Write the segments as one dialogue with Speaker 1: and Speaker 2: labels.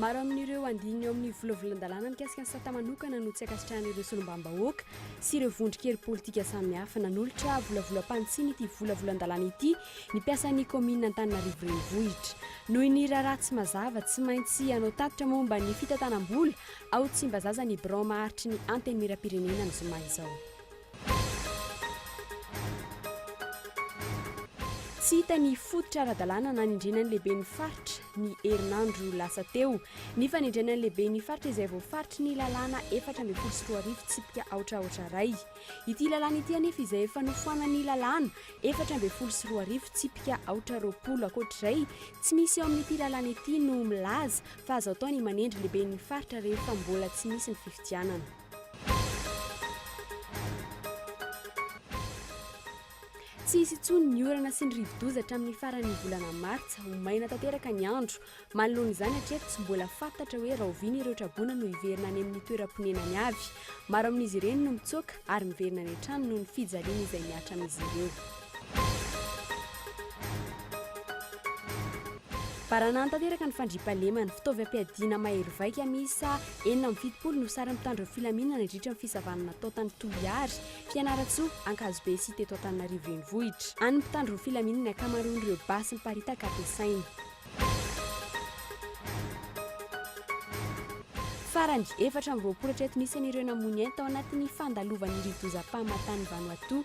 Speaker 1: Maro amin'ireo andininy ao amin'ny volavolan-dalàna mikasika ny sata manokana no tsy ankasitrahan'ireo solombavambahoaka sy ireo vondron-kery politika samihafa. Nanolotra volavolam-pantsiny ity volavolan-dalàna ity ny mpiasan'ny kaominina Antananarivo Renivohitra. Noho ny raharaha tsy mazava, tsy maintsy hanao tatitra momba ny fitantanam-bola Ao Tsimbazaza ny birao maharitry ny Antenimierampirenena ny zoma izao. Tsy hita ny fototra ara-dalàna nanendrena ny lehiben'ny faritra ny herinandro lasa teo. Ny fanendrena ny lehiben'ny faritra izay voafaritry ny lalàna efatra ambin'ny folo sy roa arivo tsipika aotra aotra iray. Ity lalàna ity anefa izay efa nofoanan'ny lalàna efatra ambin'ny folo sy roa arivo tsipika aotra roapolo ankoatr'izay tsy misy eo amin'ity lalàna ity no milaza fa azo atao ny manendry lehiben'ny faritra rehefa mbola tsy misy ny fifidianana. Tsy hisy intsony ny orana sy ny rivodoza hatramin'ny faran'ny volana martsa. Ho maina tanteraka ny andro. Manoloana izany hatreto tsy mbola fantatra hoe rahoviana ireo traboina no hiverina any amin'ny toeram-ponenany avy. Maro amin'izy ireny no mitsoaka ary miverina any an-trano noho ny fijaliana izay mihatra amin'izy ireo. Baranahiny tanteraka ny fandriampahalemana. Fitaovy ampiadiana mahery vaika miisa enina amby fitopolo no sarin'ny mpitandro ny filaminana nandritra ny fisavana natao tany Toliary, Fianarantsoa, Ankazobe sy teto Antananarivo renivohitra. An'ny mpitandro ny filaminana ny ankamaroan'ireo basy miparitaka ampiasaina. Farany, efatra amby roapolo hatreto ny isan'ireo namoy ny ainy tao anatin'ny fandalovan'ny rivodoza Pahamatan Vanuatu,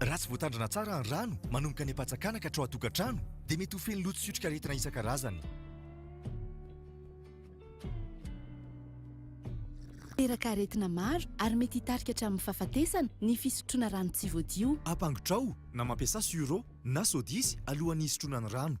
Speaker 2: Raha tsy voatandrina tsara ny rano manomboka any am-pantsakana ka hatrao an-tokantrano dia mety ho feno loto sy otrikaretina isan-karazany.
Speaker 3: Teraka aretina maro ary mety hitarika hatramin'ny fahafatesana ny fisotroana rano tsy voadio. Ampangotrao na
Speaker 2: mampiasa sur'eau na sodisy alohan'ny hisotroana ny rano.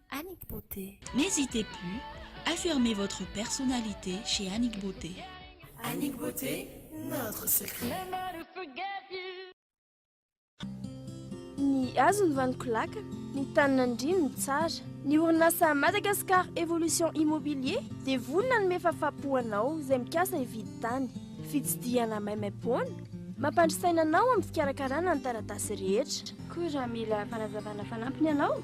Speaker 4: Annick Beauté. N'hésitez plus,
Speaker 5: affirmez votre personnalité chez Annick Beauté. Annick
Speaker 6: Beauté, notre
Speaker 1: secret. Ny hazo ny vaniko laka, ny tany nandrino ny tsara. Ny orinasa Madagascar Evolution Immobilier dia vonona hanome fafapo ho anao izay mikasa hividy tany. Fitsidihana maimaimpoana, mampandry saina anao amin'ny fikarakarana ny taratasy rehetra. Koa raha mila fanazavana fanampiny ianao,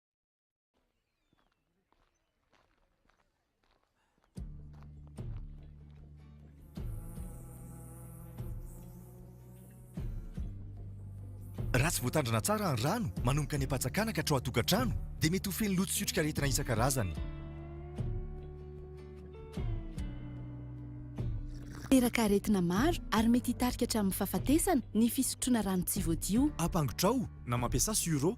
Speaker 2: Raha tsy voatandrina tsara ny rano manomboka any am-pantsakana ka hatrao an-tokantrano dia mety ho feno loto sy otrikaretina isan-karazany.
Speaker 3: Teraka aretina maro ary mety hitarika hatramin'ny fahafatesana ny fisotroana rano tsy voadio. Ampangotrao na
Speaker 2: mampiasa sur'eau.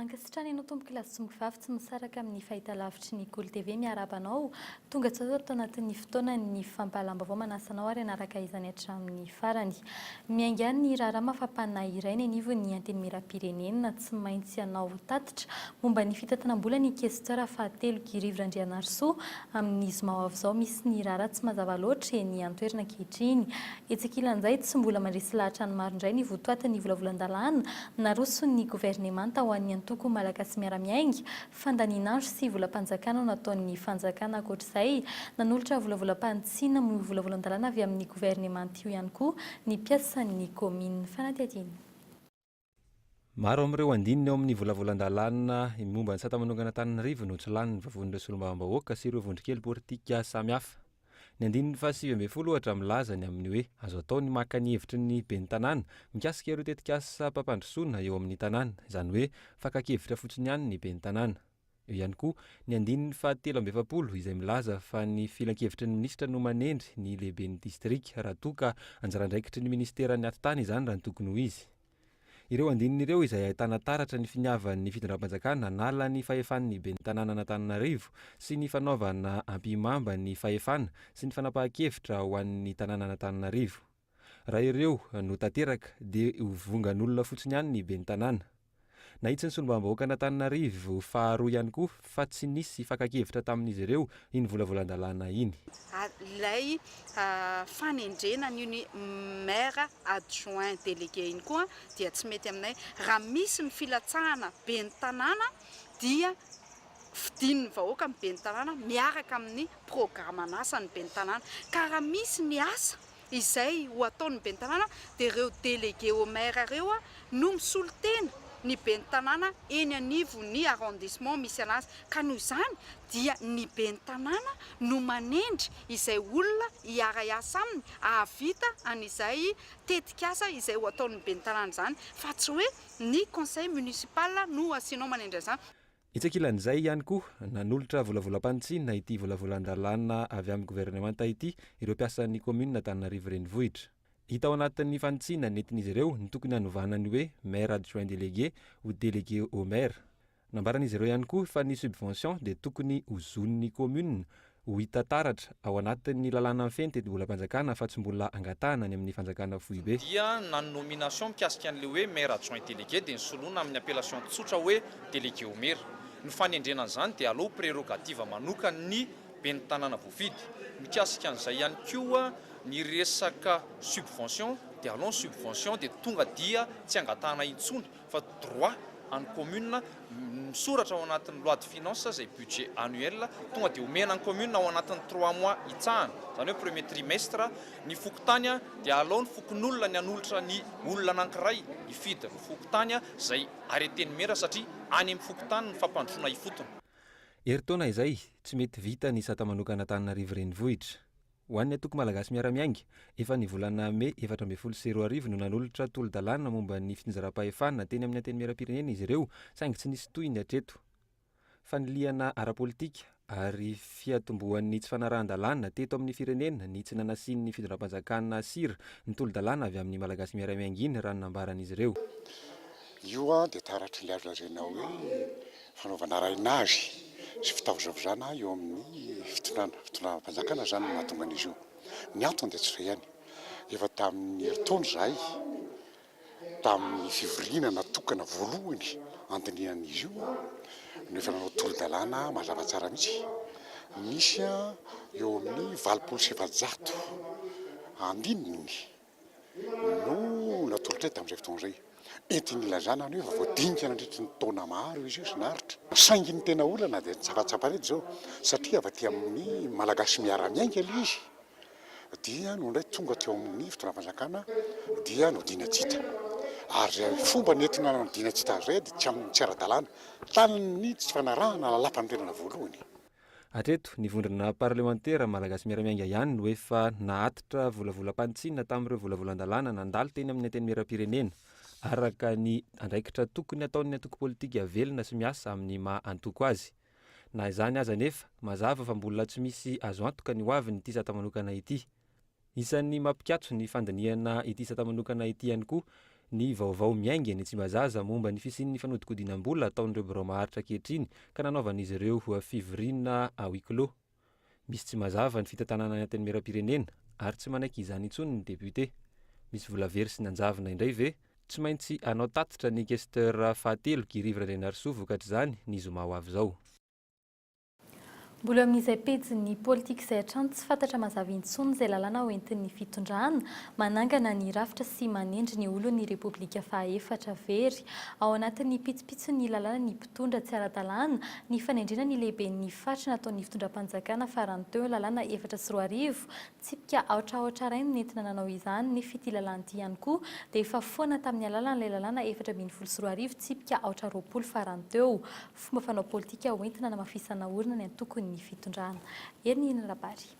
Speaker 7: Ankasitrany anao Tompoko Lasongo Vavy tsy misaraka amin'ny fahitalavitry ny Golo TV miarahaba anao tonga tsy ato anatin'ny fotoanan'ny fampahalam-baovao manasa anao ary hanaraka izany hatramin'ny farany miainga any ny raharaha mafampanahy iray ny anivon'ny Antenimierampirenena tsy maintsy hanao tatitra momba ny fitatanam-bola ny Questeur fahatelo Girivo Randrianarisoa amin'ny zoma ho avy izao misy ny raharaha tsy mazava loatra eny an-toerana ankehitriny Etsy ankilan'izay, tsy mbola mandresy lahatra ny maro indray ny votoatin'ny volavolan-dalàna naroson'ny governemanta ho an'ny antoko Malagasy Miara-Miainga, fandanian'andro sy volam-panjakana nataon'ny fanjakana. Ankoatr'izay, nanolotra volavolam-panitsiana moa io volavolan-dalàna avy amin'ny governemanta io ihany koa ny mpiasan'ny kaominina. Fanadihadiana.
Speaker 8: Maro amin'ireo andininy ao amin'ny volavolan-dalàna momba ny sata manokana Antananarivo no tsy lanin'ny vavonin'ireo solombavambahoaka sy ireo vondrokely politika samihafa. Ny andininy fahasivy ambin'ny folo ohatra milaza ny amin'ny hoe azo atao ny maka ny hevitry ny ben'ny tanàna mikasika ireo tetikasam-pampandrosoana eo amin'ny tanàna, izany hoe fakan-kevitra fotsiny ihany ny ben'ny tanàna. Eo ihany koa ny andininy fahatelo amby efapolo izay milaza fa ny filankevitry ny minisitra no manendry ny lehiben'ny distrika raha toa ka anjara andraikitry ny ministeran'ny atitany izany raha ny tokony ho izy. Ireo andininy ireo izay ahitana taratra ny finiavan'ny fitondram-panjakana hanala ny fahefan'ny ben'ny tanànan'Antananarivo sy ny fanaovana ampihimamba ny fahefana sy ny fanapahan-kevitra ho an'ny tanànan'Antananarivo. Raha ireo no tanteraka dia ho vongan'olona fotsiny ihany ny ben'ny tanàna. Nahitsy ny solombavambahoakan'Antananarivo faharoa ihany koa fa tsy nisy fakan-kevitra tamin'izy ireo iny volavolan-dalàna iny. Ilay
Speaker 9: fanendrena an'io ny maire adjoint délégué iny koa dia tsy mety aminay. Raha misy ny filatsahana ben'ny tanàna dia fidin'ny vahoaka ny ben'ny tanàna miaraka amin'ny programan'asan'ny ben'ny tanàna ka raha misy ny asa izay ho ataon'ny ben'ny tanàna dia ireo délégué au maire ireo no misolo tena ny ben'ny tanàna eny anivon'ny arrondissement misy anazy ka noho izany dia ny ben'ny tanàna no manendry izay olona hiara-hiasa aminy hahavita an'izay tetikasa izay ho ataon'ny ben'ny tanàna izany fa tsy hoe ny conseil municipal no asianao manendry an'izany. Etsy ankilan'izay
Speaker 8: ihany koa, nanolotra volavolam-panitsiana ity volavolan-dalàna avy amin'ny governemanta ity ireo mpiasan'ny kaominina Antananarivo Renivohitra. Hita ao anatin'ny fanitsiana nentin'izy ireo ny tokony hanovana ny hoe Maire adjoint délégué ho Délégué au Maire. Nambaran'izy ireo ihany koa fa ny subvention dia tokony ho zon'ny kaominina Ho hita taratra, ao anatin'ny lalàna mifehy ny tetibolam-panjakana, fa tsy mbola angatahana any amin'ny fanjakana foibe. Dia na ny nomination
Speaker 10: mikasika an'ilay hoe maire adjoint délégué dia nosoloina amin'ny appellation tsotra hoe délégué au maire. Ny fanendrena an'izany dia aleo ho prerogative manokan'ny ben'ny tanàna voafidy. Mikasika an'izay ihany koa ny resaka subvention dia aleo ny subvention dia tonga dia tsy angatahana intsony fa droit an'ny commune misoratra ao anatin'ny loi de finance izay budget annuel tonga dia omena ny commune ao anatin'ny trois mois hitsahana izany hoe premier trimestre ny fokontany dia alao ny fokonolona ny hanolotra ny olona anankiray hifidy ny fokontany izay arrêté ny maire satria any amin'ny fokontany ny fampandrosoana ifotony. Herintaona
Speaker 8: izay, tsy mety vita ny sata manokana Antananarivo Renivohitra. Ho an'ny Antoko Malagasy Miara-Miainga, efa ny volana mey efatra ambin'ny folo sy roa arivo no nanolotra tolo-dalàna momba ny fitsinjaram-pahefana teny amin'ny Antenimierampirenena izy ireo saingy tsy nisy tohiny hatreto. Fanilihana ara-politika ary fiatombohan'ny tsy fanarahan-dalàna teto amin'ny firenena ny tsy nanasian'ny fitondram-panjakana sira ny tolo-dalàna avy amin'ny Malagasy Miara-Miainga iny raha ny nambaran'izy ireo. Io
Speaker 11: dia taratry ny azo lazaina hoe fanaovana raina azy sy fitavozavozana eo amin'ny fitondrana, fitondram-panjakana izany no mahatonga an'izy io. Ny antony dia tsy izay ihany, efa tamin'ny herintaona izahay, tamin'ny fivoriana natokana voalohany handinihan'izy io no efa nanao tolo-dalàna mazava tsara mihitsy, misy eo amin'ny valopolo sy efajato andininy. no natoritray tamin'izay fotoana izay. Entin'ny ilazana ny hoe efa voadinika nandritry ny taona maro izy io sy naharitra. Saingy ny tena olana dia tsaratsaparidy izao satria avy aty amin'ny Malagasy miara-miainga ilay izy dia no indray tonga teo amin'ny fitondram-panjakana dia nodiana tsy hita. Ary izay fomba nentina nanodiana tsy hita azy izay dia tsy amin'ny tsy ara-dalàna, tamin'ny tsy fanarahana lalampanorenana voalohany. Hatreto,
Speaker 8: ny vondrona parlemantera malagasy miara-miainga ihany no efa nahatitra volavolam-panitsiana tamin'ireo volavolan-dalàna nandalo teny amin'ny Antenimierampirenena, araka ny andraikitra tokony ataon'ny antoko politika velona sy miasa amin'ny maha antoko azy. Na izany aza anefa, mazava fa mbola tsy misy azo antoka ny hoavin'ity sata manokana ity. Isan'ny mampikatso ny fandinihana ity isata manokana ity ihany koa ny vaovao miainga eny Tsimbazaza momba ny fisian'ny fanodikodinam-bola ataon'ireo birao maharitra ankehitriny ka nanaovan'izy ireo fivoriana à huis clos. Misy tsy mazava ny fitantanana ny Antenimierampirenena ary tsy manaiky izany intsony ny député. Misy vola very sy nanjavona indray ve? Tsy maintsy hanao tatitra ny questeur fahatelo Guy Rivo Randrianarisoa vokatr'izany ny zoma ho avy izao.
Speaker 7: Mbola amin'izay pejin'ny politika izay hatrany tsy fantatra mazava intsony izay lalàna hoentin'ny fitondrana, manangana ny rafitra sy manendry ny olon'ny Repoblika fahaefatra. Very ao anatin'ny pitsopitson'ny lalàna ny mpitondra tsy ara-dalàna, ny fanendrena ny lehiben'ny faritra nataon'ny fitondram-panjakana farany teo, lalàna efatra sy roa arivo, tsipika aotra aotra iray no nentina nanao izany, nefa ity lalàna ity ihany koa dia efa foana tamin'ny alalan'ilay lalàna efatra ambin'ny folo sy roa arivo, tsipika aotra roapolo farany teo. Fomba fanao politika hoentina anamafisana orina ny antokon' ny fitondrana. Eny ny Rabary.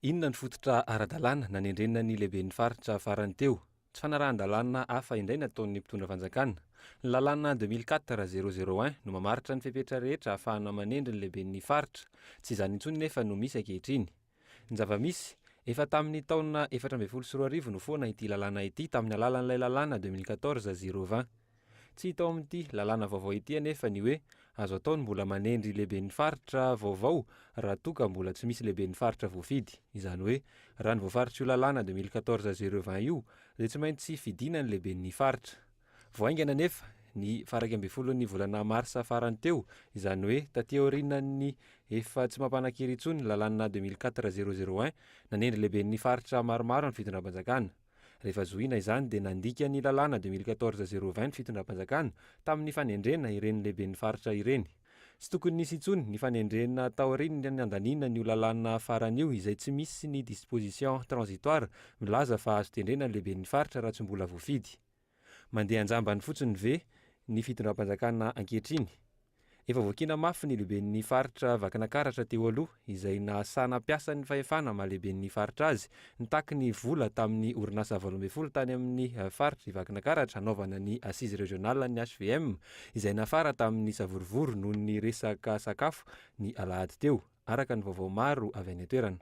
Speaker 8: Inona ny fototra ara-dalàna nanendrena ny lehiben'ny faritra farany teo? Tsy fanarahan-dalàna hafa indray nataon'ny mpitondra fanjakana. Ny lalàna deux mille quatre zéro zéro un no mamaritra ny fepetra rehetra ahafahana manendry ny lehiben'ny faritra. Tsy izany intsony nefa no misy ankehitriny. Ny zava-misy, efa tamin'ny taona efatra ambin'ny folo sy roa arivo no foana ity lalàna ity tamin'ny alalan'ilay lalàna deux mille quatorze zéro vingt. Tsy hita ao amin'ity lalàna vaovao ity anefa ny hoe azo atao ny mbola manendry lehiben'ny faritra vaovao raha toa ka mbola tsy misy lehiben'ny faritra voafidy. Izany hoe raha ny voafaritr' io lalàna deux mille quatorze zéro vingt io dia tsy maintsy fidina ny lehiben'ny faritra. Vao haingana anefa, ny faha iraika ambin'ny folon'ny volana marsa farany teo, izany hoe taty aorianan'ny efa tsy mampanan-kery intsony ny lalàna deux mille quatre zéro zéro un, nanendry lehiben'ny faritra maromaro ny fitondram-panjakana. Rehefa zohiana izany dia nandika ny lalàna deux mille quatorze zéro vingt ny fitondram-panjakana tamin'ny fanendrena ireny lehiben'ny faritra ireny. Tsy tokony nisy intsony ny fanendrena taorian'ny nandaniana an'io lalàna farany io izay tsy misy ny disposition transitoire milaza fa azo tendrena ny lehiben'ny faritra raha tsy mbola voafidy. Mandeha an-jambany fotsiny ve ny fitondram-panjakana ankehitriny? Efa voakiana mafy ny lehiben'ny faritra Vakinakaratra teo aloha izay nahasana mpiasan'ny fahefana mahalehiben'ny faritra azy nitaky ny vola tamin'ny orinasa valo ambin'ny folo tany amin'ny faritr'i Vakinakaratra hanaovana ny Assise Régionale ny HVM izay nafara tamin'ny savorovoro noho ny resaka sakafo ny alahady teo araka ny vaovao maro avy any an-toerana.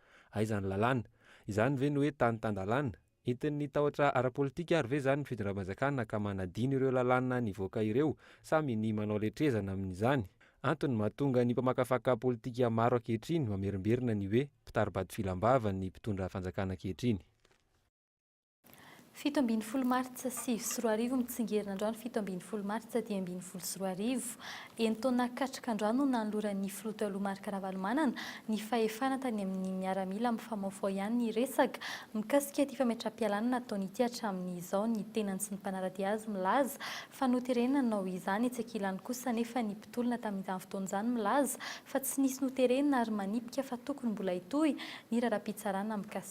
Speaker 8: Aiza ny lalàna? Izany ve no hoe tany tan-dalàna? Entin'ny tahotra ara-politika ary ve izany ny fitondram-panjakana ka manadino ireo lalàna nivoaka ireo? Sa minia manao letrezana amin'izany? Antony mahatonga ny mpamakafaka politika maro ankehitriny mamerimberina ny hoe mpitari-bado filam-bava ny mpitondra fanjakana ankehitriny.
Speaker 7: Fito ambin'ny folo martsa sivy sy roa arivo Mitsingerina androany fito ambin'ny folo martsa dimy ambin'ny folo sy roa arivo. Enin-taona katroka androany no nanoloran'ny filoha taloha Marc Ravalomanana ny fahefana tany amin'ny miaramila mifamofoha ihany ny resaka mikasika ity fametraha-pialana nataony ity hatramin'izao ny tenany sy ny mpanaradia azy milaza fa noterena nanao izany etsy ankilany kosa nefa ny mpitolona tamin'izany fotoana izany milaza fa tsy nisy noterena ary manipika fa tokony mbola hitohy ny raharaham-pitsarana mikasika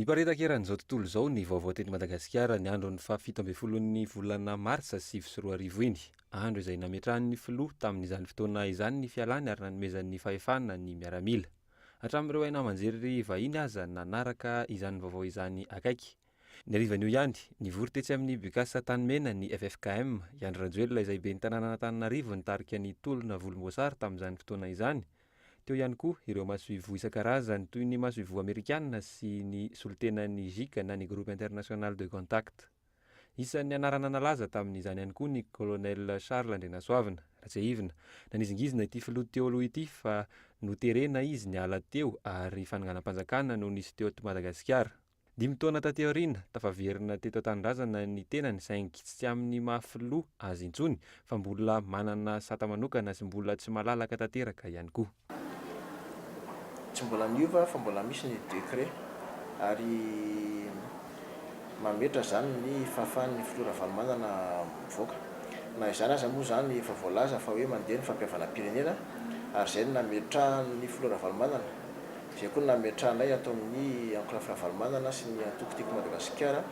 Speaker 12: Niparitaka
Speaker 8: eran'izao tontolo izao ny vaovao teto Madagasikara ny andron'ny faha fito ambin'ny folon'ny volana martsa sivy sy roa arivo iny, andro izay nametrahan'ny filoha tamin'izany fotoana izany ny fialany ary nanomezany fahefana ny miaramila. Hatramin'ireo haino aman-jery vahiny aza nanaraka izany vaovao izany akaiky. Ny harivan'io ihany, nivory tetsy amin'ny Bucas Antanimena ny ffkm, i Andry Rajoelina izay ben'ny tanànan'Antananarivo nitarika ny tolona volomboasary tamin'izany fotoana izany, Teo ihany koa ireo masoivoho isan-karazany toy ny masoivoho amerikana sy ny solontenan'ny GIC na ny Groupe International de Contact. Isan'ny anarana nalaza tamin'izany ihany koa ny Colonel Charles Andrianasoavina, Ratsiahivina. Nanizingizina ity filoha teo aloha ity fa noterena izy niala teo ary fananganam-panjakana no nisy teto Madagasikara. Dimy taona taty aoriana, tafaverina teto an-tanindrazana ny tenany saingy tsy amin'ny maha filoha azy intsony fa mbola manana sata manokana sy mbola tsy malalaka tanteraka ihany koa.
Speaker 13: Tsy mbola niova fa mbola misy ny décret ary mametra izany ny fahafahan'ny filoha Ravalomanana mivoaka. Na izany aza moa izany efa voalaza fa hoe mandeha ny fampihavanam-pirenena ary izay no nametrahan'ny filoha Ravalomanana izay koa nametrahanay ato amin'ny Ancraf Ravalomanana sy ny Antoko Tiako Madagasikara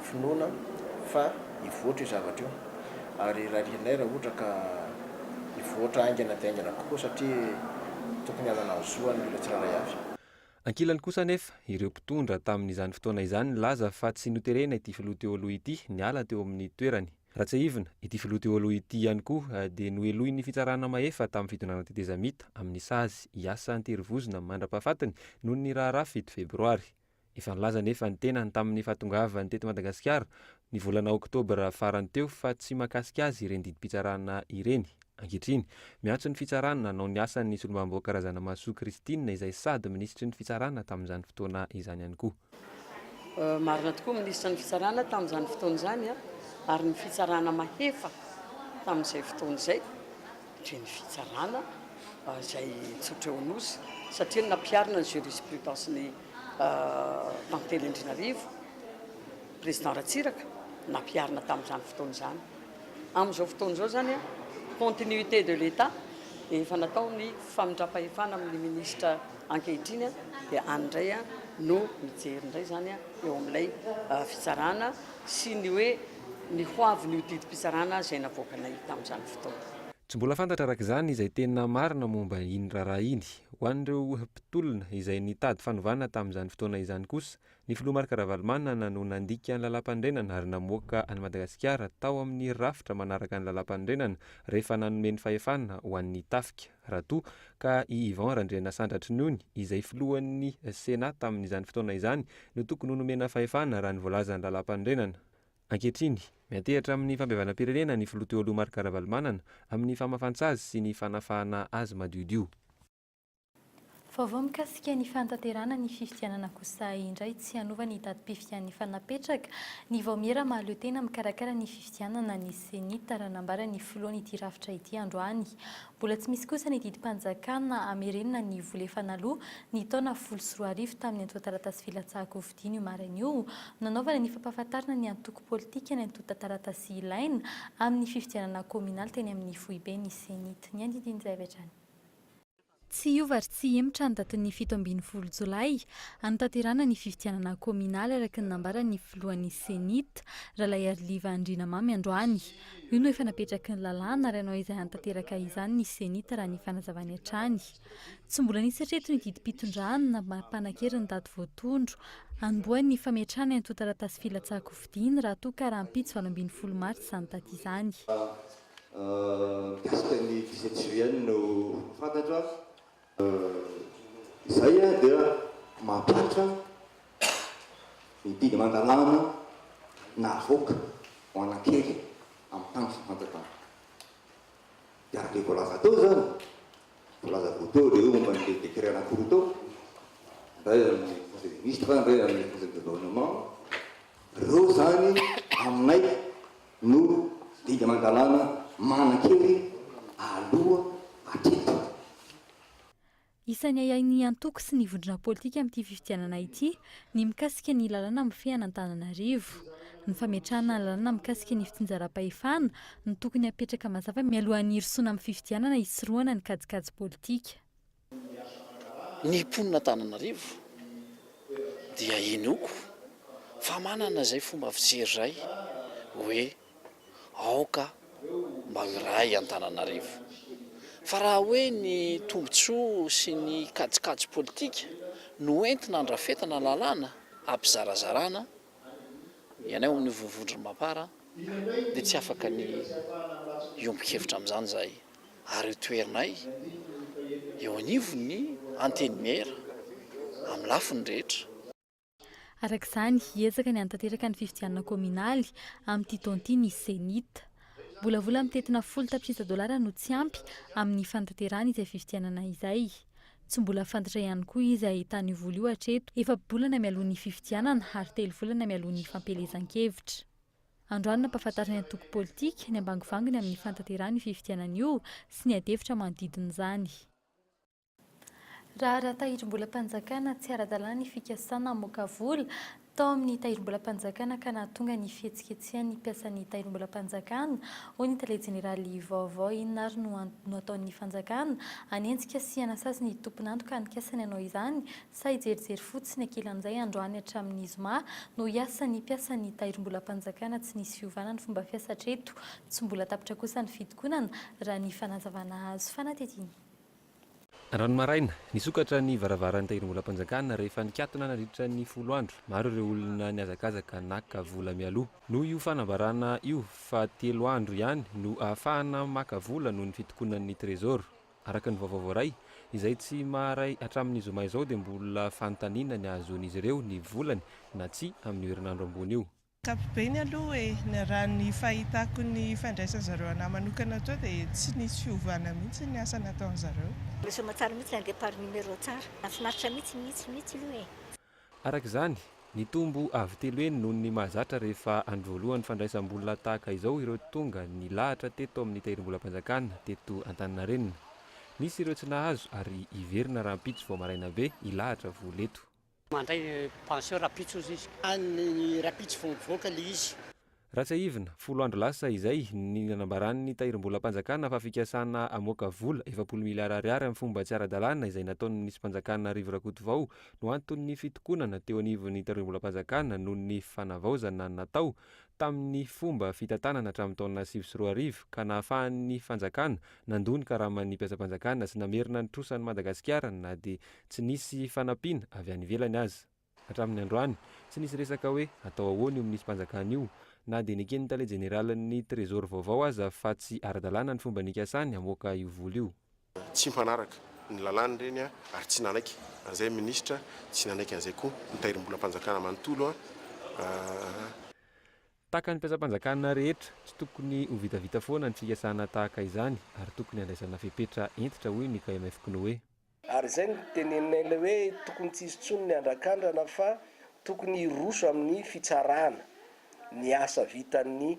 Speaker 13: finoana fa hivoatra io zavatra io ary rarianay raha ohatra ka hivoatra haingana dia haingana kokoa satria tokony hanana ny zoany ireo tsirairay avy. Ankilany kosa
Speaker 8: anefa, ireo mpitondra tamin'izany fotoana izany nilaza fa tsy noterena ity filoha teo aloha ity niala teo amin'ny toerany. Raha tsiahivina, ity filoha teo aloha ity ihany koa dia nohelohin'ny fitsarana mahefa tamin'ny fitondrana tetezamita amin'ny sazy hiasa an-terivozona mandra-pahafatiny noho ny raharaha fito febroary. Efa nilaza anefa ny tenany tamin'ny fahatongavany teto Madagasikara ny volana oktobra farany teo fa tsy mahakasika azy ireny didim-pitsarana ireny. Ankehitriny, miantso ny fitsarana nanao ny asany ny solombavambahoaka Razanamahasoa Christine izay sady minisitry ny fitsarana tamin'izany fotoana izany ihany koa.
Speaker 14: Marina tokoa minisitra ny fitsarana tamin'izany fotoana izany a! ary ny fitsarana mahefa tamin'izay fotoana izay dia ny fitsarana izay nitsotra eo Anosy satria ny nampiharina ny jurisprudence ny tantely Andrianarivo président Ratsiraka nampiharina tamin'izany fotoana izany. Amin'izao fotoana izao izany, continuité de l'Etat, dia efa natao ny famindram-pahefana amin'ny ministra ankehitriny, dia any indray no mijery indray izany eo amin'ilay fitsarana sy ny hoe ny ho avin'io didim-pitsarana izay navoakanay tamin'izany fotoana. Tsy mbola fantatra
Speaker 8: araka izany izay tena marina momba iny raharaha iny. Ho an'ireo mpitolona izay nitady fanovana tamin'izany fotoana izany kosa Ny filoha Marc Ravalomanana no nandika ny Lalàmpanorenana ary namoaka an'i Madagasikara tao amin'ny rafitra manaraka ny Lalàmpanorenana rehefa nanome ny fahefana ho an'ny tafika, raha toa ka i Yvan Randrianasandratry Nony, izay filohan'ny Sénat tamin'izany fotoana izany, no tokony ho nomena fahefana raha ny voalazan'ny Lalàmpanorenana. Ankehitriny, miantehatra amin'ny fampihavanam-pirenena ny filoha teo aloha Marc Ravalomanana amin'ny famafan-tsazy sy ny fanafahana azy madiodio.
Speaker 7: Vaovao mikasika ny fanatanterahana ny fifidianana Kosahy indray tsy hanova ny datim-pifidian'ny fa napetraka ny vaomiera mahaleo tena mikarakara ny fifidianana ny Ceni tar nambaran'ny filohan'ity rafitra ity androany. Mbola tsy misy kosa ny didim-panjakana hamerenana ny vola efa naloa ny taona folo sy roa arivo tamin'ny antontan-taratasy filatsahan-kofidiana io maraina io nanaovana ny fampahafantarana ny antoko politika ny antontan-taratasy ilaina amin'ny fifidianana kaominaly teny amin'ny foiben'ny Ceni tar. Ny andinindin'izay avy hatrany. Tsy hiova ary tsy hihemotra ny datin'ny fito ambin'ny folo jolay hanatanterahana ny fifidianana kaominaly, araka ny nambaran'ny filohan'ny Cenit, Ralaiariliva Andrianamamy androany. Io no efa napetraky ny lalàna ary hanao izay hanatanteraka izany ny Cenit raha ny fanazavany hatrany. Tsy mbola nisy hatreto ny didim-pitondrana na maha-mpanankery ny daty voatondro hanombohan'ny fametrahana ny antontan-taratasy filatsahan-kofidina raha toa ka rahampitso valo ambin'ny folo martsa izany daty izany.
Speaker 15: Mikasika ny dix-sept juillet no fantatra izay dia mampihatra ny didy aman-dalàna navoaka ho an'Ankery amin'ny tany sy ny fanjakana. Dia araka izay voalaza teo izany, voalaza avy teo ilay hoe momba an'ilay décret anankiroa teo, indray amin'ny conseil des ministres, indray amin'ny conseil de gouvernement, ireo izany aminay no didy aman-dalàna manan-kery aloha hatreto.
Speaker 7: Isan'ny ahiahin'ny antoko sy ny vondrona politika amin'ity fifidianana ity ny mikasika ny lalàna mifehy an'Antananarivo. Ny fametrahana ny lalàna mikasika ny fitsinjaram-pahefana no tokony hapetraka mazava mialohan'ny hirosoana amin'ny fifidianana hisorohana ny kajikajy politika.
Speaker 16: Ny mponina Antananarivo dia inoako fa manana izay fomba fijery izay hoe aoka mba ho iray i Antananarivo. Fa raha hoe ny tombontsoa sy ny kajikajy politika no entina handrafetana lalàna hampizarazarana ny anay ao amin'ny Vovondron'i Mapar dia tsy afaka ny hiombon-kevitra amin'izany izahay ary io toerinay eo anivon'ny Antenimiera amin'ny lafiny rehetra. Araka
Speaker 7: izany, hiezaka ny hanatanteraka ny fifidianana kaominaly amin'ity taona ity ny Cenit. Mbolavola mitentina folo tapitrisa dolara no tsy ampy amin'ny fanatanterahana izay fifidianana izay. Tsy mbola fantatra ihany koa iza ahitana io vola io hatreto, efa-bolana mialoha ny fifidianana ary telo volana mialoha ny fampielezan-kevitra. Androany nampahafantarin'ny antoko politika ny ambangivanginy amin'ny fanatanterahana io fifidianana io sy ny adihevitra manodidina izany. Raharaha tahirim-bolam-panjakana, tsy ara-dalàna ny fikasana hamoaka vola. tao amin'ny Tahirimbolam-panjakana ka nahatonga ny fihetsiketsehan'ny mpiasan'ny Tahirimbolam-panjakana, hoy ny Tale Jeneraly vaovao. Inona ary no antony no ataon'ny fanjakana hanenjika sy hanasazy ny tompon'antoka anikasany hanao izany? Sa hijerijery fotsiny ankilany amin'izay androany hatramin'ny zoma no hiasa ny mpiasan'ny Tahirimbolam-panjakana? Tsy nisy fiovana ny fomba fiasa hatreto. Tsy mbola tapitra kosa ny fitokonana, raha ny fanazavana azo fanadihadiana.
Speaker 8: Androany maraina, nisokatra ny varavaran'ny Tahirimbolam-panjakana rehefa nikatona nandritra ny folo andro maro ireo olona nihazakazaka naka vola mialoha. Noho io fanambarana io fa telo andro ihany no ahafahana maka vola noho ny fitokonan'ny Trésor. Araka ny vaovao voaray, izay tsy maharay hatramin'ny zoma izao dia mbola fanontaniana ny hahazoan'izy ireo ny volany na tsia amin'io herinandro ambony io. Ankapobeny aloha
Speaker 17: e, raha ny fahitako ny fandraisan zareo anah manokana teo dia tsy nisy fiovana mihitsy ny asa nataon zareo. Lasa aman-tsara mihitsy
Speaker 18: ilay départ numéro tsara. Nahafinaritra mihitsy, mihitsy, mihitsy aloha e. Araka izany,
Speaker 8: nitombo avo telo heny noho ny mahazatra rehefa andro voalohany fandraisam-bola tahaka izao ireo tonga nilahatra teto amin'ny Tahirimbolam-panjakana teto Antaninarenina. Nisy ireo tsy nahazo ary hiverina rahampitso vao maraina be hilahatra vola eto. Mandray
Speaker 19: pension rapitso ozy izy. Any rapitso vao mivoaka le izy. Raha
Speaker 8: tsiahivina, folo andro lasa izay ny nanambaran'ny Tahirimbolam-panjakana fa fikasana hamoaka vola efapolo miliara ariary amin'ny fomba tsy ara-dalàna izay nataon'ny minisitrim-panjakana Rivo Rakotovao no anton'ny fitokonana teo anivon'ny Tahirimbolam-panjakana noho ny fanavaozana natao tamin'ny fomba fitantanana hatramin'ny taona sivy sy roa arivo ka nahafahan'ny fanjakana nandoa ny karaman'ny mpiasam-panjakana sy namerina ny trosan'i Madagasikara na dia Tsy nisy fanampiana avy any ivelany aza. Hatramin'ny androany, tsy nisy resaka hoe atao ahoana io minisym-panjakana io, na dia neken'ny tale jeneralin'ny Trésor vaovao aza fa tsy ara-dalàna ny fomba nikasany hamoaka io vola io. Tsy mpanaraka
Speaker 6: ny lalàna ireny ary tsy nanaiky an'izay ny minisitra, tsy nanaiky an'izay koa ny tahirim-bolam-panjakana manontolo.
Speaker 8: Tahaka ny mpiasam-panjakana rehetra, tsy tokony ho vitavita foana ny fikasana tahaka izany ary tokony handraisana fepetra hentitra, hoy ny KMF Knoe. Ary izay no
Speaker 19: teneninay ilay hoe tokony tsy hisy intsony ny andrakandrana fa tokony hiroso amin'ny fitsarana ny asa vitan'ny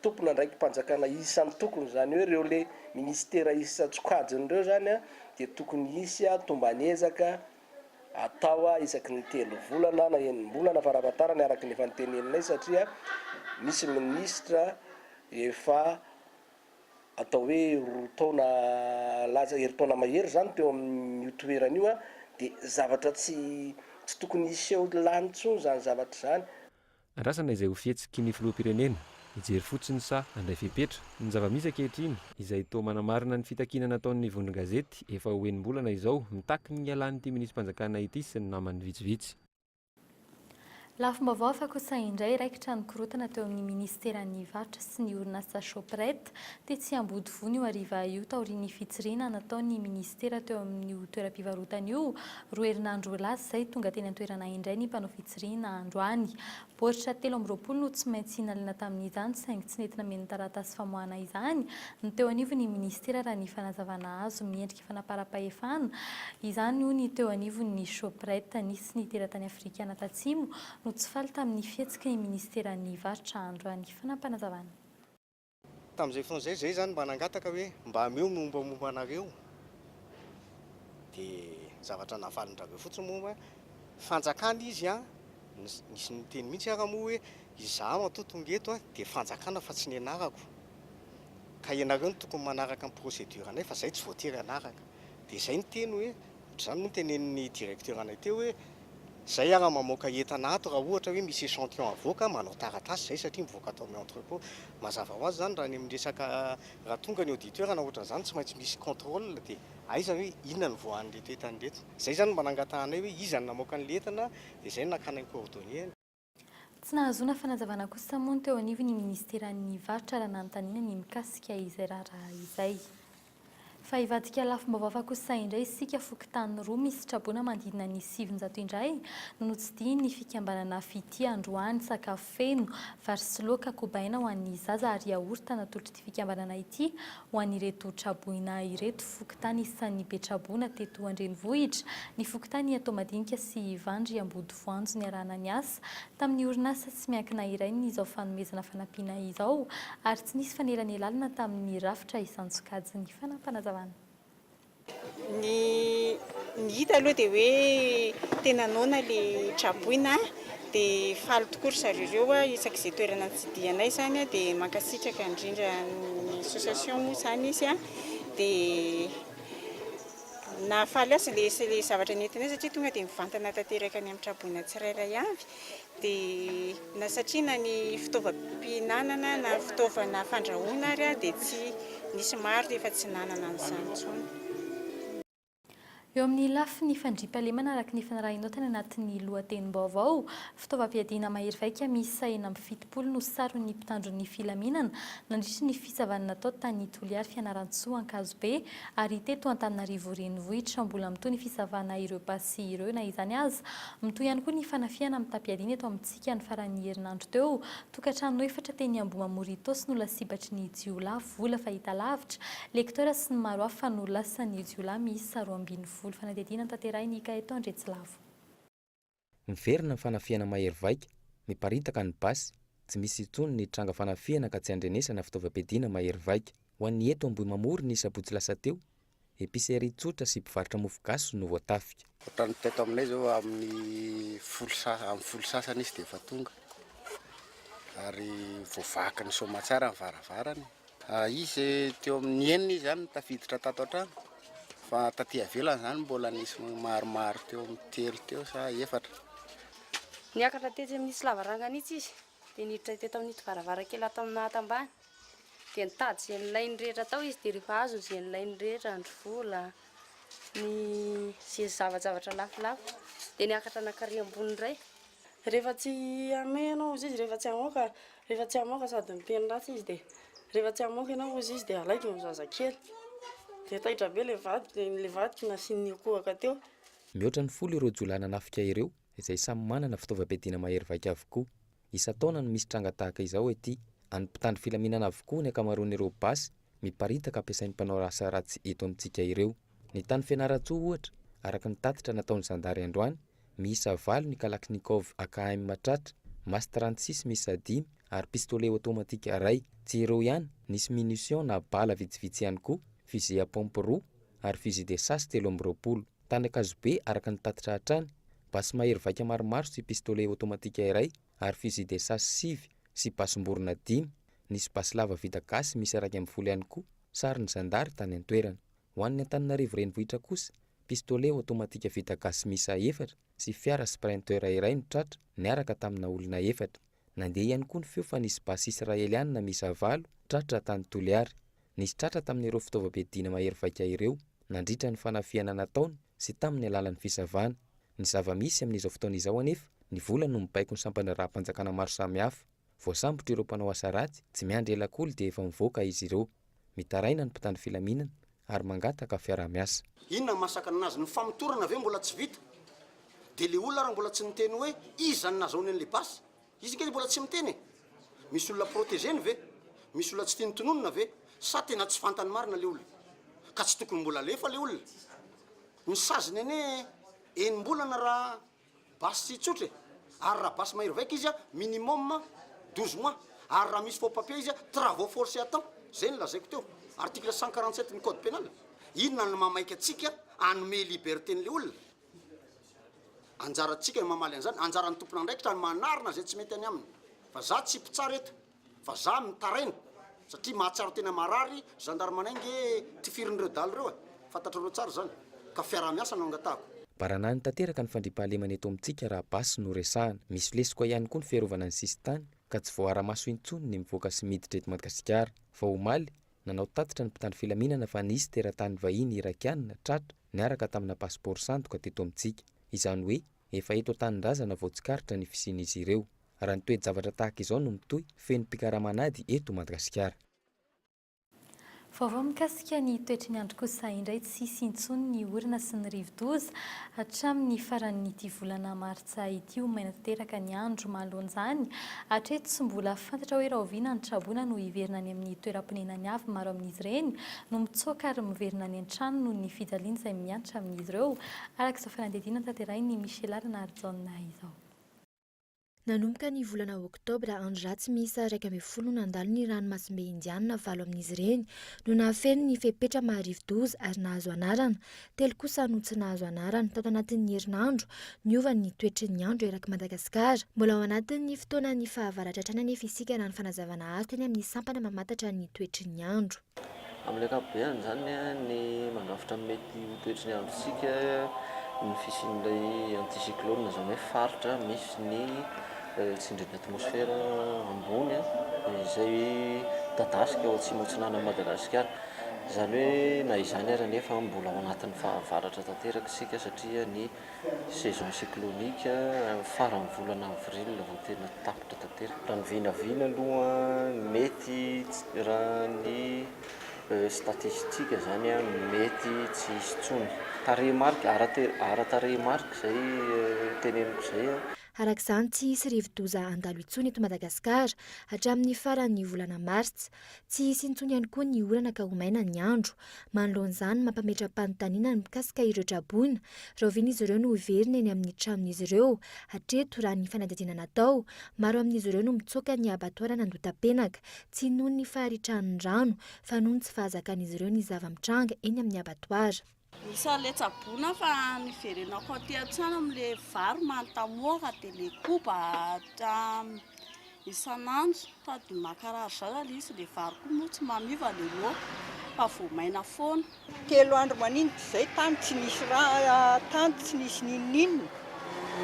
Speaker 19: tompon'andraiki-panjakana isan-tokony, izany hoe ireo le minisitera isan-tsokajiny ireo izany dia tokony hisy tomban'ezaka atao isaky ny telo volana na enim-bolana farafahatarany araka ny efa noteneninay satria misy minisitra efa atao hoe roa taona laza herintaona mahery izany teo amin'io toerana io, dia zavatra tsy tsy tokony hiseho lany intsony izany zavatra izany. Andrasana izay
Speaker 8: ho fihetsiky ny Filoham-pirenena, hijery fotsiny sa handray fepetra? Ny zava-misy ankehitriny, izay toa manamarina ny fitakiana nataon'ny vondron-gazety efa ho enim-bolana izao, mitaky ny hialan'ity Minisi-panjakana ity sy ny namany vitsivitsy. Lafim-baovao
Speaker 7: hafa kosa indray raikitra nikorontana teo amin'ny minisiteran'ny varotra sy ny orinasa Shoprite tetsy Ambodivohiny io hariva io taorian'ny fitsiriana nataon'ny minisitera teo amin'io toeram-pivarotana io roa herinandro lasa izay. Tonga teny an-toerana indray ny mpanao fitsirihina androany. Baoritra telo amby roapolo no tsy maintsy nalana tamin'izany saingy tsy nety nameno taratasy famoahana izany ny teo anivon'ny minisitera raha ny fanazavana azo. fanaparam-pahefana. Izany hoy ny teo anivon'ny Shoprite nisy ny teratany afrikana tatsimo no tsy faly tamin'ny fihetsiky ny minisiteran'ny varotra androany. Fanapanazavana.
Speaker 4: Tamin'izay fotoana izay, izay izany mba nangataka hoe mba ameo ny mombamomba anareo dia ny zavatra navalin-draveo fotsiny moa hoe fanjakana izy an, nisy niteny mihitsy ara moa hoe Izaho atoa tonga eto a dia fanjakana fa tsy ny anarako ka ianareo no tokony manaraka ny procédure anay fa izahay tsy voatery hanaraka dia izay ny teny hoe ohatr'izany moa ny tenenin'ny directeur anay teo hoe izay ara mamoaka entana ato raha ohatra hoe misy echantillon avoaka manao taratasy izay satria mivoaka ato amin'ny entrepot mazava ho azy izany raha ny amin'ny resaka raha tonga ny auditeur na ohatr'izany tsy maintsy misy contrôle dia aiza hoe inona no voan'ireto entana ireto izay izany no mba nangatahanay hoe iza no namoaka an'ilay entana dia izay no nakana ny coordonnées Tsy
Speaker 7: nahazoana fanazavana kosa moa ny teo anivon'ny ministeran'ny varotra raha nanontaniana ny mikasika izay raharaha izay. Fa hivadika lafim-baovao hafa kosa indray isika, fokontany roa misy traboina manodidina ny sivinjato indray no notsidihin'ny fikambanana Fitia androany, sakafo feno, vary sy laoka, kobaina ho an'ny zaza ary yaourt natolotra fikambanana ity ho an'ireto traboina ireto, fokontany isan'ny be traboina teto an-drenivohitra, ny fokontany Iatao Madinika sy Ivandry Ambodivoanjo niarahana niasa tamin'ny orinasa tsy miankina iray ny izao fanomezana fanampiana izao ary tsy nisy fanelanelalana tamin'ny rafitra isan-tsokajiny. Fanampinazavana. Ny
Speaker 20: ny hita aloha dia hoe tena noana ilay traboina dia faly tokoa ry zareo ireo isak'izay toerana nitsidihanay izany dia mankasitraka indrindra ny association moa izany izy dia nahafaly azy ilay ilay zavatra nentinay satria tonga dia mivantana tanteraka any amin'ny traboina tsirairay avy Dia na satria na ny fitaovam-pihinanana na fitaovana fandrahoana ary dia tsy nisy maro efa tsy nanana an'izany intsony.
Speaker 7: Eo amin'ny lafiny fandriampahalemana araka ny fanarahinao tany anatin'ny lohatenim-baovao, fitaovam-piadiana mahery vaika miisa enina amby fitopolo no saron'ny mpitandro ny filaminana nandritra ny fisavana natao tany Toliary Fianarantsoa Ankazobe Ary teto Antananarivo Renivohitra, mbola mitohy ny fisavana ireo basy ireo. Na izany aza, mitohy ihany koa ny fanafihana mitam-piadiana eto amintsika ny faran'ny herinandro teo. Tokantrano efatra teny Ambohimamoritaosy no lasibatry ny jiolahy vola fahitalavitra, lecteurs sy ny maro hafa no lasan'ny jiolahy miisa roa ambin'ny folo. Fanadihadiana notanterahiny Ikaeto Andriatsilavo.
Speaker 5: Miverina ny fanafihana mahery vaika, miparitaka ny basy, tsy misy intsony ny tranga fanafihana ka tsy andrenesana fitaovam-piadiana mahery vaika. Ho an'ny eto Ambohimamory ny sabotsy lasa teo, epicerie tsotra sy mpivarotra mofo gasy no voatafika. Ohatran'ny teto aminay
Speaker 11: izao amin'ny folo sa amin'ny folo sasany izy dia efa tonga ary
Speaker 3: voavakin'ny soamatsara ny varavarana e. Izy teo amin'ny enina izy zany no tafiditra tato an-trano, fa taty ivelany zany mbola nisy maromaro teo amin'ny telo teo sa efatra.
Speaker 1: Niakatra tetsy amin'itsy lavarangana itsy izy, dia niditra teto amin'ito varavarankely ato amin'ny naha tambany. Dia nitady izay nilainy rehetra tao izy, dia rehefa azony izay nilainy rehetra, andry vola, ny ze zava-javatra lafolafo, dia niakatra nankary ambony indray. Rehefa tsy hameno izy, rehefa tsy hamoaka, Rehefa tsy hamoaka sady miteny ratsy izy dia rehefa tsy hamoaka ianao hozy izy dia alaiky ny zazakely. Dia taitra be ilay vadiko, ilay vadiko nasian'ny akohaka teo. Mihoatra ny folo
Speaker 5: ireo jiolahy nanafika ireo, izay samy manana fitaovam-piadiana mahery vaika avokoa. Isan-taona no misy tranga tahaka izao ety, an'ny mpitandro filaminana avokoa ny ankamaroan'ireo basy miparitaka ampiasain'ny mpanao asa ratsy eto amintsika ireo. Ny tany Fianarantsoa, ohatra, araka ny tatitra nataon'ny zandary androany, miisa valo ny Kalachnikov AKM tratra, Mas trente six miisa dimy ary pistolet automatique iray. Tsy ireo ihany, nisy munitions na bala vitsivitsy ihany koa, fusil à pompe roa ary fusil de chasse telo amby roapolo. Tany Ankazobe, araka ny tatitra hatrany, basy mahery vaika maromaro sy pistolet automatique iray ary fusil de chasse sivy sy basim-borona dimy. Nisy basy lava vita gasy miisa iraika ambin'ny folo ihany koa, sarin'ny zandary tany an-toerana. Ho an'ny Antananarivo Renivohitra kosa, pistolet aotomatika vita gasy miisa efatra sy fiara Sprinter iray no tratra, niaraka tamina olona efatra. Nandeha ihany koa ny feo fa nisy basy Israelianina miisa valo tratra tany Toliary. Nisy tratra tamin'ireo fitaovam-piadiana mahery vaika ireo, nandritra ny fanafihana nataony sy tamin'ny alalan'ny fisavana. Ny zava-misy amin'izao fotoana izao anefa, ny vola no mibaiko ny sampandraharaham-panjakana maro samihafa. Voasambotra ireo mpanao asa ratsy, tsy miandry ela akory dia efa mivoaka izy ireo. Mitaraina ny mpitandro filaminana ary mangataka fiaraha-miasa. Inona no mahasakana
Speaker 21: anazy? Ny famotorana ve mbola tsy vita? Dia le olona ary mbola tsy niteny hoe iza no nazaony an'le basy? Izy nge mbola tsy miteny e! Misy olona protégé-ny ve? Misy olona tsy tiany tononina ve? Sa tena tsy fantany marina le olona? Ka tsy tokony mbola alefa le olona? Ny saziny anie enim-bolana raha. Basy tsotra e! Ary raha basy mahery vaika izy, minimum douze mois. Ary raha misy faux-papier izy, travaux forcés à temps. Zay ny lazaiko teo. Article cent quarante sept ny code pénal. Inona no mahamaika antsika hanome liberté an'ilay olona? Anjarantsika ny mamaly an'izany. Anjaran'ny tompon'andraikitra ny manarina izay tsy mety any aminy. Fa za tsy mpitsara eto. Vazaha mitaraina satria mahatsiaro tena marary zandarmana nge tifirin'ireo daly ireo e! fantatrareo tsara izany ka fiaraha-miasa no angatahako. Baranahiny tanteraka
Speaker 5: ny fandriampahalemana eto amintsika raha basy no resahana. Misy lesoka ihany koa ny fiarovana ny sisintany ka tsy voaara-maso intsony ny mivoaka sy miditra eto Madgasikara. Vao omaly, nanao tatitra ny mpitandro filaminana fa nisy teratany vahiny Irakiana tratra niaraka tamina pasipaoro sandoka teto amintsika. Izany hoe, Efa eto an-tanindrazana vao tsikaritra ny fisian'izy ireo. Raha ny toe-javatra tahaka izao no mitohy, feno mpikaramana ady eto Madagasikara. Vaovao
Speaker 7: mikasika ny toetry ny andro kosa indray tsy hisy intsony ny orana sy ny rivodoza hatramin'ny faran'ity volana martsa ity ho maina tanteraka ny andro mahaloan'izany hatreto tsy mbola fantatra hoe rahoviana ny traboina no hiverina any amin'ny toeram-ponenany avy maro amin'izy ireny no mitsoaka ary miverina any an-trano noho ny fijaliana izay miantra amin'izy ireo Araka izao fanadihadiana notanterahin'i Michela Ranarijaona izao.
Speaker 22: Nanomboka ny volana oktobra, andro ratsy miisa iraika ambin'ny folo no nandalo ny ranomasimbe indianina, valo amin'izy ireny no nahafeno ny fepetra maharivo-doza ary nahazo anarana, telo kosa no tsy nahazo anarana. Tato anatin'ny herinandro, niova ny toetry ny andro erak'i Madagasikara. Mbola ao anatin'ny fotoanan'ny fahavaratra hatrany anefa isika raha ny fanazavana azo teny amin'ny sampana mamantatra ny toetry ny andro. Amin'ny ankapobeny
Speaker 23: izany, ny mandrafitra mety ho toetry ny androntsika ny fisian'ilay anticyclone, izany hoe faritra misy ny tsindrin'ny atmosfera ambony izay midadasika ao atsimo atsinanan'i Madagasikara. Izany hoe na izany ary anefa mbola ao anatin'ny fahavaratra tanteraka isika satria ny Saison cyclonique amin'ny faran'ny volana avril vao tena tapitra tanteraka. Raha ny vinavina aloha mety raha ny statistika zany mety tsy hisy intsony. Tarehimarika, ara-tarehimarika izay teneniko izay. Araka izany tsy
Speaker 22: hisy rivodoza handalo intsony eto Madagasikara hatramin'ny faran'ny volana martsa. Tsy hisy intsony ihany koa ny orana ka ho maina ny andro. Manoloana izany, mampametra-panontaniana ny mikasika ireo traboina. Rahoviana izy ireo no hiverina eny amin'ny tranon'izy ireo? Hatreto, raha ny fanadihadiana natao, maro amin'izy ireo no mitsoaka ny abatoara an'Andotapenaka, tsy noho ny faharitran'ny rano, fa noho ny tsy fahazakan'izy ireo ny zava-mitranga eny amin'ny abatoara. Misaoa le
Speaker 24: tsaboina fa niverenako aty an-trano amin le vary mantamoaka de le koba isan'andro sady makarary zao ilay izy le vary koa moa tsy mamiova le loaka fa vao maina foana. Telo andro
Speaker 20: maninitra izay tany tsy nisy rano tany tsy nisy n'inon'inona,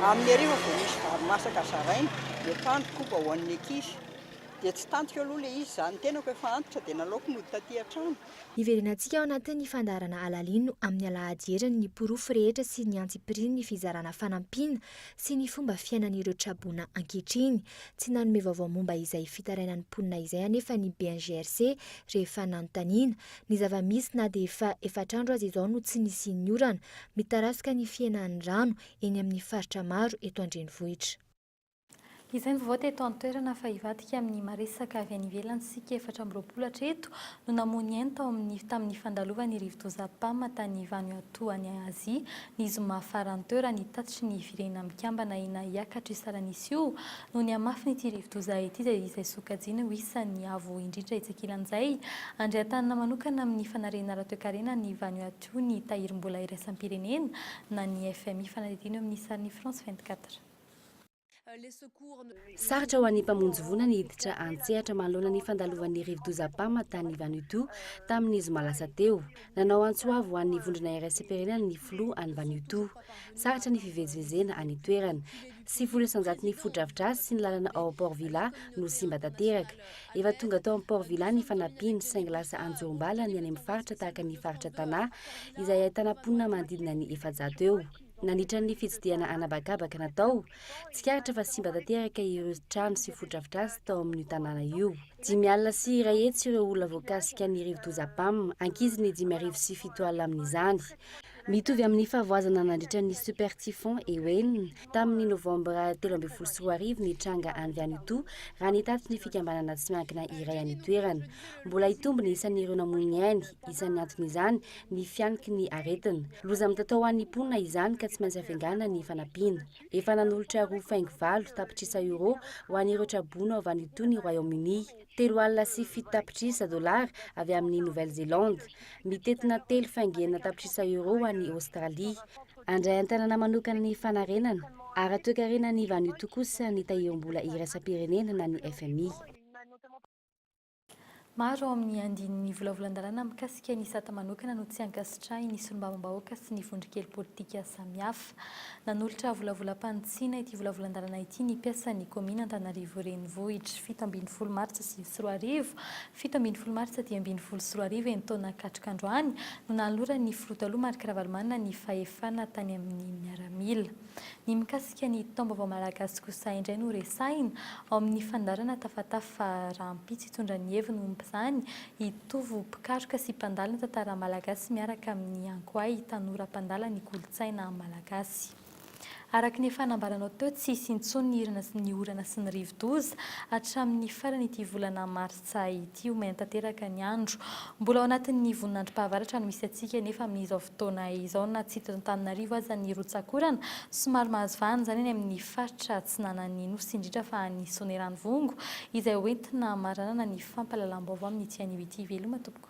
Speaker 20: amin'ny hariva vao misy vary masaka zaraina dia atoandro koba ho an'ny ankizy, dia tsy tantiko aloha ilay izy, izaho ny tenako efa antitra dia nalaoko nody taty an-trano. Hiverenantsika ao
Speaker 22: anatin'ny fandaharana Alalino amin'ny alahady heriny ny porofo rehetra sy ny antsipirian'ny fizarana fanampiana sy ny fomba fiainan'ireo traboina ankehitriny. Tsy nanome vaovao momba izay fitarainan'ny mponina izay anefa ny BNGRC rehefa nanontaniana. Ny zava-misy na dia efa efatr'andro aza izao no tsy nisian'ny orana, mitarazoka ny fihenan'ny rano eny amin'ny faritra maro eto an-drenivohitra.
Speaker 7: Izay mivovoha teto an-toerana fa hivadika amin'ny maresaka avy any ivelany isika efatra amby roapolo hatreto no namoha ny ainy tao amin'ny tamin'ny fandalovan'ny rivodoza Pam tany Vanuatu any Azia ny zoma faran'ny teo raha ny tatitry ny Firenena Mikambana ina hiakatra io salanisa io noho ny hamafin'ity rivodoza ity izay izay sokajiany ho isan'ny avo indrindra etsy ankilan'izay andriatanana manokana amin'ny fanariana ara-toekarena an'i Vanuatu ny tahirim-bola iraisam-pirenena na ny FMI fanadihadiana eo amin'ny sarin'i France 24.
Speaker 2: Sarotra ho an'ny mpamonjy voina ny hiditra an-tsehatra manoloana ny fandalovan'ny rivodoza Pama tany Vanutu tamin'ny zoma lasa teo. Nanao antso avo ho an'ny vondrona iraisam-pirenena ny filoha any Vanutu. Sarotra ny fivezivezena any an-toerana. Sivifolo isan-jato ny fotodrafitrasa sy ny lalana ao Port Vila no simba tanteraka. Efa tonga tao amin'ny Port Vila ny fanampiana saingy lasa anjorom-bala ny any amin'ny faritra tahaka ny faritra Tana izay ahitana mponina manodidina ny efajato eo. Nandritra ny fitsidihana an'habakabaka natao, tsikaritra fa simba tanteraka ireo trano sy fotodrafitrasa tao amin'io tanàna io. Dimy alina sy iray hetsy ireo olona voakasika ny rivodoza Pam, ankizy ny dimy arivo sy fito alina amin'izany. Mitovy amin'ny fahavoazana nandritra ny Super Typhon Ewen, tamin'ny Novambra telo ambin'ny folo sy roa arivo ny tranga any Vanutu, raha ny tatitry ny fikambanana tsy miankina iray any an-toerana. Mbola hitombo ny isan'ireo namoy ny ainy, isan'ny anton'izany, ny fihaniky ny aretina. Loza mitatao ho an'ny mponina izany ka tsy maintsy afengana ny fanampiana. Efa nanolotra roa faingo valo tapitrisa euro ho an'ireo tra-boina ao Vanuatu ny Royaume-Uni, telo alina sy fito tapitrisa dolara avy amin'i Nouvelle-Zélande, mitentina telo faingo enina tapitrisa euro ho an'i Aostralia. Handray an-tanana manokana ny fanarenana ara-toekarena an'i Vanuatu kosa ny tahirim-bola iraisam-pirenena na ny fmi.
Speaker 7: Maro ao amin'ny andininy volavolan-dalàna mikasika ny sata manokana no tsy ankasitrahin'ny solombavambahoaka sy ny vondron-kely politika samihafa. Nanolotra volavolam-panitsiana ity volavolan-dalàna ity ny mpiasan'ny kaominina Antananarivo Renivohitra. Fito ambin'ny folo martsa sivy sy roa arivo, fito ambin'ny folo martsa dimy ambin'ny folo sy roa arivo eny taona katroka androany no nanoloran'ny filoha taloha Marc Ravalomanana ny fahefana tany amin'ny miaramila. Ny mikasika ny taom-baovao malagasy kosa indray no resahina, ao amin'ny fandaharana tafatafa fa rahampitso hitondra ny heviny momba izany i Tovo mpikaroka sy mpandala ny tantara malagasy miaraka amin'i Ankoay tanora mpandala ny kolontsaina malagasy. Araka ny efa nambaranao teo, tsy hisy intsony ny hirana sy ny orana sy ny rivodoza hatramin'ny faran'ity volana marsa. Tsaho ity ho maina tanteraka ny andro. Mbola ao anatin'ny voninandrom-pahavaratra no misy antsika anefa amin'izao fotoana izao na tsy eto Antananarivo aza ny rotsak'orana. Somary mahazo vahana izany any amin'ny faritra atsinanan'ny Nosy indrindra fa any Soanierano Vongo izay hoentina maranana ny fampahalalam-baovao amin'ity anio ity. Veloma tompoko.